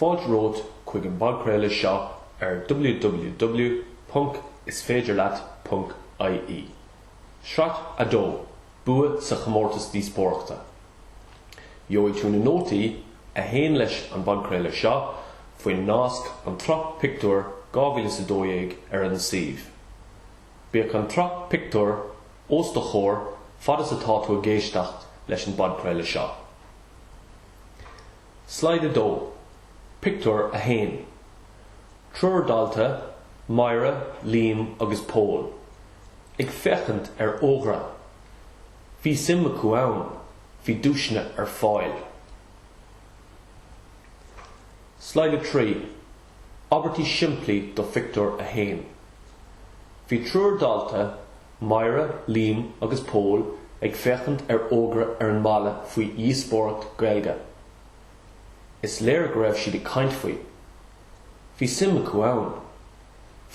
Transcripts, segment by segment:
Fáilte romhat chuig an bpodchraoladh seo ar www.isféidirleat.ie, Sraith 2, Bua sa Chomórtas Díospóireachta. Gheobhaidh tú na nótaí a théann leis an bpodchraoladh seo faoin nasc An tSraith Pictiúr 2012 ar an suíomh. Bíodh an tsraith pictiúr os do chomhair fad is atá tú ag éisteacht leis an bpodchraoladh seo. Slide 2, Pictiúr 1, Triúr dalta, Máire, Liam agus Pól, ag féachaint ar fhógra. Bhí suim acu ann. Bhí duaiseanna ar fáil. Slide 3. Abairtí simplí do Phictiúr a hAon Bhí triúr dalta, Máire, Liam agus Pól, ag féachaint ar fhógra ar an mballa faoi dhíospóireacht Gaeilge. Is léir go raibh siad ag caint faoi. Bhí suim acu ann.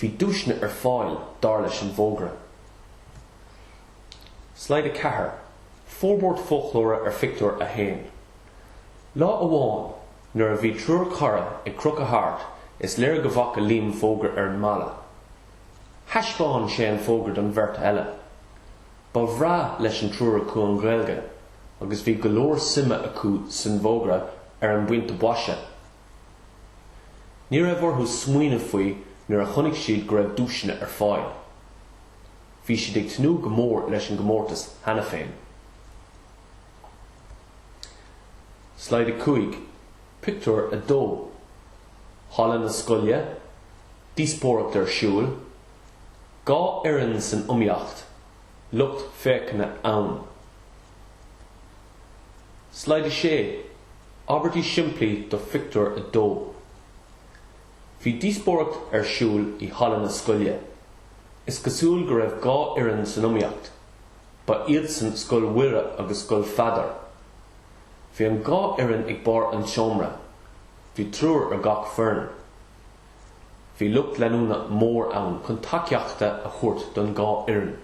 Bhí duaiseanna ar fáil, dar leis an bhfógra. Slide 4, Forbairt foclóra ar Phictiúr a hAon. Lá amháin nuair a bhí triúr cara ag crochadh thart, is léir go bhfaca Liam fógra ar an mballa. Thaispeáin sé an fógra don bheirt eile. Ba bhreá leis an triúr acu an Ghaeilge, agus bhí go leor suime acu san bhfógra ar an bpointe boise. Ní raibh orthu smaoineamh faoi nuair a chonaic siad go raibh duaiseanna ar fáil. Bhí siad ag tnúth go mór leis an gcomórtas cheana féin. Slide 5, Pictiúr 2 Halla na Scoile, díospóireacht ar siúl, dhá fhoireann san iomaíocht, lucht féachana ann. Slide 6, Abairtí simplí do Phictiúr 2 Bhí díospóireacht ar siúl i halla na scoile. Is cosúil go raibh dhá fhoireann san iomaíocht. Ba iadsan Scoil Mhuire agus Scoil Pheadair. Bhí an dhá fhoireann ag barr an tseomra. Bhí triúr ar gach foireann. Bhí lucht leanúna mór ann chun tacaíochta a thabhairt don dhá fhoireann.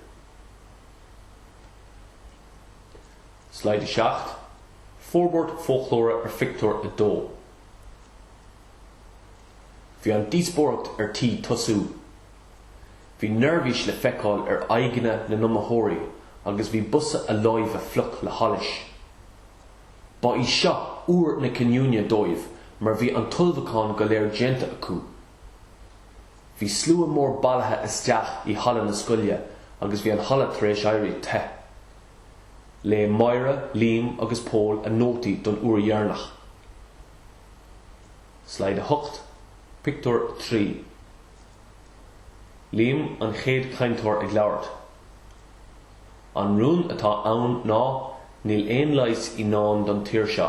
Slide 7, Forbairt Foclóra ar Phictiúr 2. Bhí an díospóireacht ar tí tosú. Bhí neirbhís le feiceáil ar aghaidheanna na n-iomaitheoirí agus bhí bosa a láimhe fliuch le hallas. Ba í seo uair na cinniúna dóibh mar bhí an t-ullmhucháin go léir déanta acu. Bhí slua mór bailithe isteach i halla na scoile agus bhí an halla tar éis éirí te. Léigh Máire, Liam agus Pól a nótaí don uair dheireanach. Slide 8, Pictiúr 3. Liam, an chéad cainteoir ag labhairt, An rún atá ann ná níl aon leigheas i ndán don tír seo.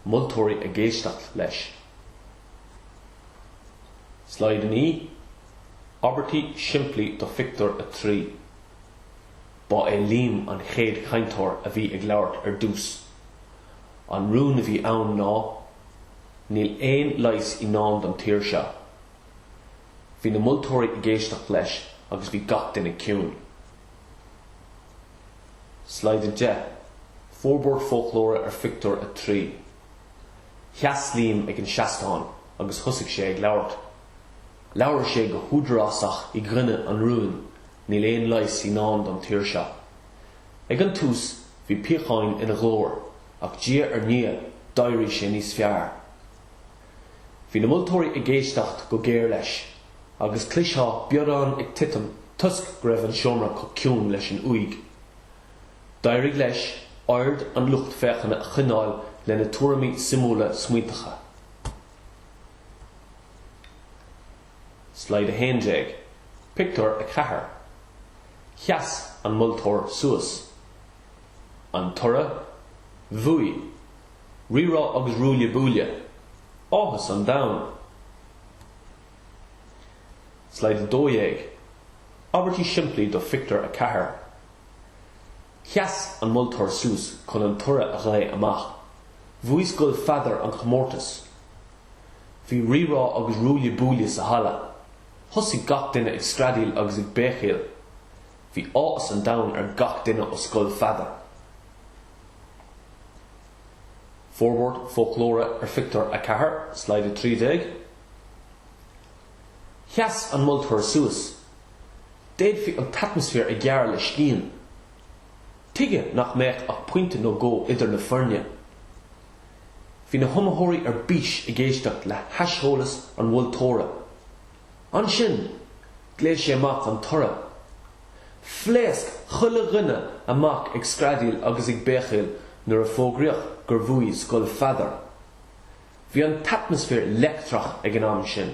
Moltóirí ag éisteacht leis. Slide 9, Abairtí simplí do Phictiúr a Trí Ba é Liam an chéad cainteoir a bhí ag labhairt ar dtús. An rún a bhí ann ná Níl aon leigheas i ndán don tír seo. Bhí na moltóirí ag éisteacht leis agus bhí gach duine ciúin. Slide 10, Forbairt foclóra ar Phictiúr 3 Sheas Liam ag an seastán agus thosaigh sé ag labhairt. Labhair sé go húdarásach i gcoinne an rúin, Níl aon leigheas i ndán don tír seo. Ag an tús bhí píocháin ina ghlór ach diaidh ar ndiaidh d'éirigh sé níos fearr. Bhí na moltóirí ag éisteacht go géar leis agus chloistheá biorán ag titim toisc go raibh an seomra chomh ciúin leis an uaigh. D'éirigh leis aird an lucht féachana a choinneáil lena tuairimí suimiúla smaointeacha. Slide 11, Pictiúr 4. Sheas an moltóir suas. An toradh? Bhuaigh! Rírá agus ruaille buaille! Áthas an domhain! Slide 12, Abairtí simplí do Phictiúr 4. Sheas an moltóir suas chun an toradh a ghlao amach. Bhuaigh Scoil Pheadair an chomórtas! Bhí rírá agus ruaille buaille sa halla. Thosaigh gach duine ag screadaíl agus ag béicíl. Bhí áthas an domhain ar gach duine ó Scoil Pheadair. Forbairt Foclóra Ar phictiúr a ceathair, Slide 13, sheas an moltóir suas. D'fhéadfaí an t-atmaisféar a ghearradh le scian. Tuigeadh nach mbeadh ach pointe nó dhó idir na foirne? Bhí na hiomaitheoirí ar bís ag éisteacht le haiseolas an mholtóra. Ansin, ghlaoigh sé amach an toradh. Phléasc chuile dhuine amach ag screadaíl agus ag béicíl nuair a fógraíodh gur bhuaigh Scoil Pheadair. Bhí an t-atmaisféar leictreach ag an am sin.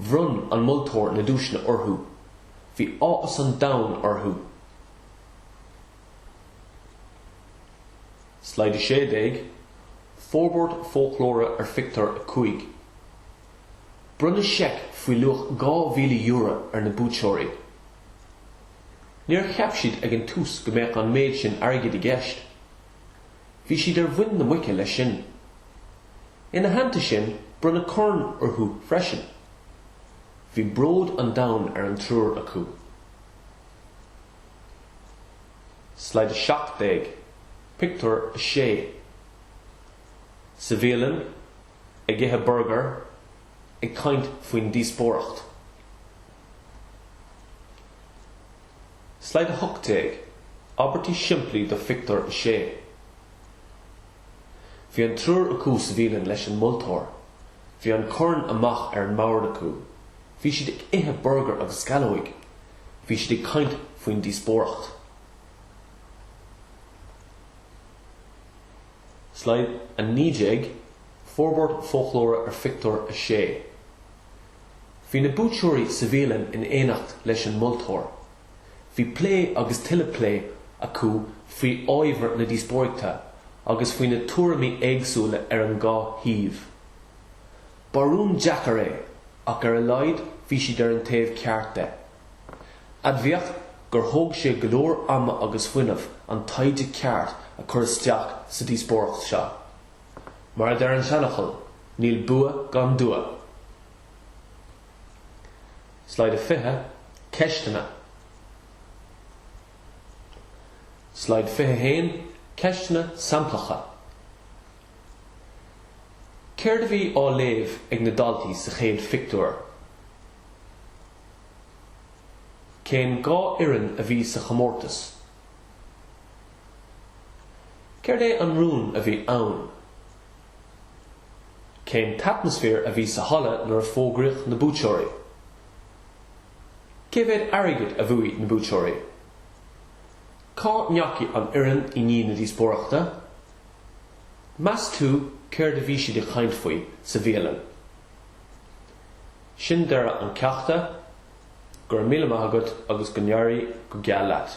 Bhronn an moltóir na duaiseanna orthu. Bhí áthas an domhain orthu. Slide 16, Forbairt foclóra ar Phictiúr 5. Bronnadh seic faoi luach €2,000 ar na buaiteoirí. Níor cheap siad ag an tús go mbeadh an méid sin airgid i gceist. Bhí siad ar mhuin na muice leis sin. Ina theannta sin, bronnadh corn orthu freisin. Bhí bród an domhain ar an triúr acu. Slide 17, Pictiúr 6 Sa bhialann, ag ithe burgair, ag caint faoin díospóireacht. Slide 18, Abairtí simplí do Phictiúr 6. Bhí an triúr acu sa bhialann leis an moltóir. Bhí an corn amuigh ar an mbord acu. Bhí siad ag ithe burgair agus sceallóga. Bhí siad ag caint faoin díospóireacht. Slide 19, Forbairt foclóra ar Phictiúr 6. Bhí na buaiteoirí sa bhialann in éineacht leis an moltóir. Bhí plé agus tuilleadh plé acu faoi ábhar na díospóireachta agus faoi na tuairimí éagsúla ar an dhá thaobh. Ba rún deacair é, ach ar a laghad bhí siad ar an taobh ceart de. Admhaíodh gur thóg sé go leor ama agus fuinnimh an taighde ceart a chur isteach sa díospóireacht seo. Mar a deir an seanfhocal, níl bua gan dua. Slide 20, Ceisteanna Slide 21, Ceisteanna samplacha Céard a bhí á léamh ag na daltaí sa chéad phictiúr? Cén dhá fhoireann a bhí sa chomórtas? Céard é an rún a bhí ann? Cén t-atmaisféar a bhí sa halla nuair a fógraíodh na buaiteoirí? Cé mhéad airgid a bhuaigh na buaiteoirí? Cá ndeachaigh an fhoireann i ndiaidh na díospóireachta? Meas tú céard a bhí siad ag caint faoi sa bhialann? Sin deireadh an cheachta, go raibh míle maith agat agus go n-éirí go geal leat!